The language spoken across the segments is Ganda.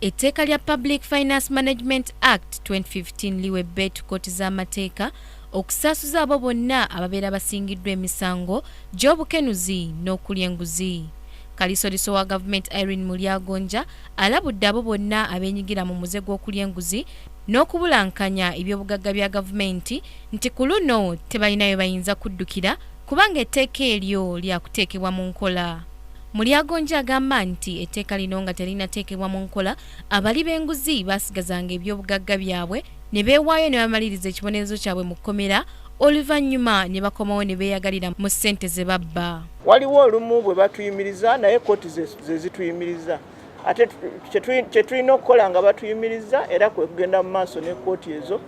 Etteeka lya Public Finance Management Act 2015 liwa ebbeetu kkooti z'amateeka okusaasuza abo bonna ababeera basingiddwa emisango gy'obukenuzi n'okulya enguzi. Kalisoliso wa gavumenti Irene Mulyagonja alabudde abo bonna abeenyigira mu muze gw'okulya enguzi n'okubulankanya ebyobugagga bya gavumenti nti ku luno tebalina we bayinza kuddukira kubanga etteeka eryo lyakuteekebwa mu nkola. Mulyagonja agamba nti etteeka lino nga terinateekebwa mu nkola, abali b'enguzi baasigazanga ebyobugagga byabwe ne beewaayo ne bamaliriza ekibonerezo kyabwe mu kkomera oluvannyuma ne bakomawo ne beeyagalira mu ssente ze babba. Waliwo olumu bwe batuyimiriza naye kkooti ze zituyimiriza. Ate kye tulina okukola nga batuyimiriza era kwe kugenda mu maaso ne kkooti ezo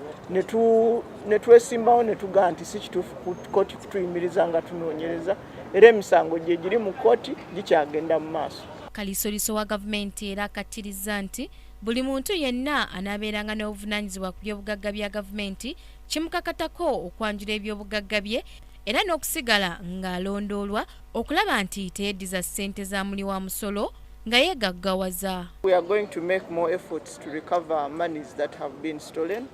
ne twesimbawo ne tugaa nti si kituufu kkooti kutuyimiriza nga tunoonyereza. era emisango gye giri mu kkooti gikyagenda mu maaso kalisoliso wa gavumenti era akattirizza nti buli muntu yenna anaabeeranga n'obuvunanyizibwa ku byobugagga bya gavumenti kimukakatako okwanjula ebyobugagga bye era n'okusigala ng'alondoolwa okulaba nti teyeddiza ssente za muli wa musolo nga yeegaggawaza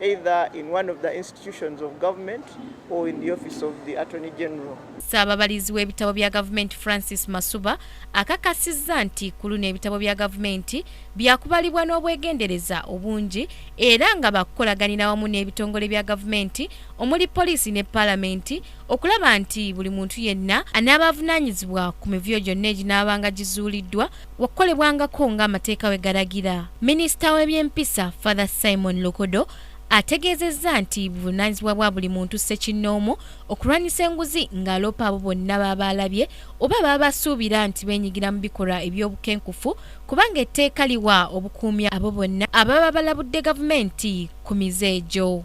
either in one of the institutions of government or in the office of the attorney general ssaababalizi w'ebitabo bya gavumenti francis masuba akakasizza nti ku luno ebitabo bya gavumenti byakubalibwa n'obwegendereza obungi era nga bakukolaganira wamu n'ebitongole bya gavumenti omuli poliisi ne paalamenti okulaba nti buli muntu yenna anaaba avunaanyizibwa ku mivuyo gyonna eginaabanga gizuuliddwa wakukolebwangako ng'amateeka bwe galagira. Minisita w'ebyempisa, Father Simon Lokodo ategeezezza nti buvunaanyizibwa bwa buli muntu ssekinnoomu okulwanyisa enguzi ng'aloopa abo bonna baba alabye oba baba basuubira nti beenyigira mu bikolwa eby'obukenkufu kubanga etteeka liwa obukuumi abo bonna ababa balabudde gavumenti ku mize egyo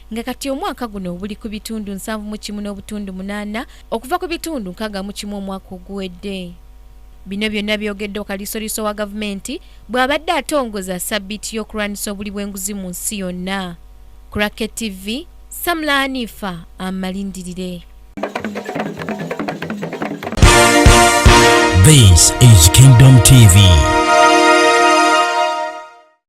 nga kati omwaka guno buli ku bitundu nsanvu mu kimu n'obutundu munaana okuva ku bitundu nkaaga mu kimu omwaka oguwedde bino byonna byogedde okalisoliso wa gavumenti bw'abadde atongoza sabbiiti y'okulwanyisa obuli bw'enguzi mu nsi yonna kurake tv samla anifa amalindirire This is Kingdom TV.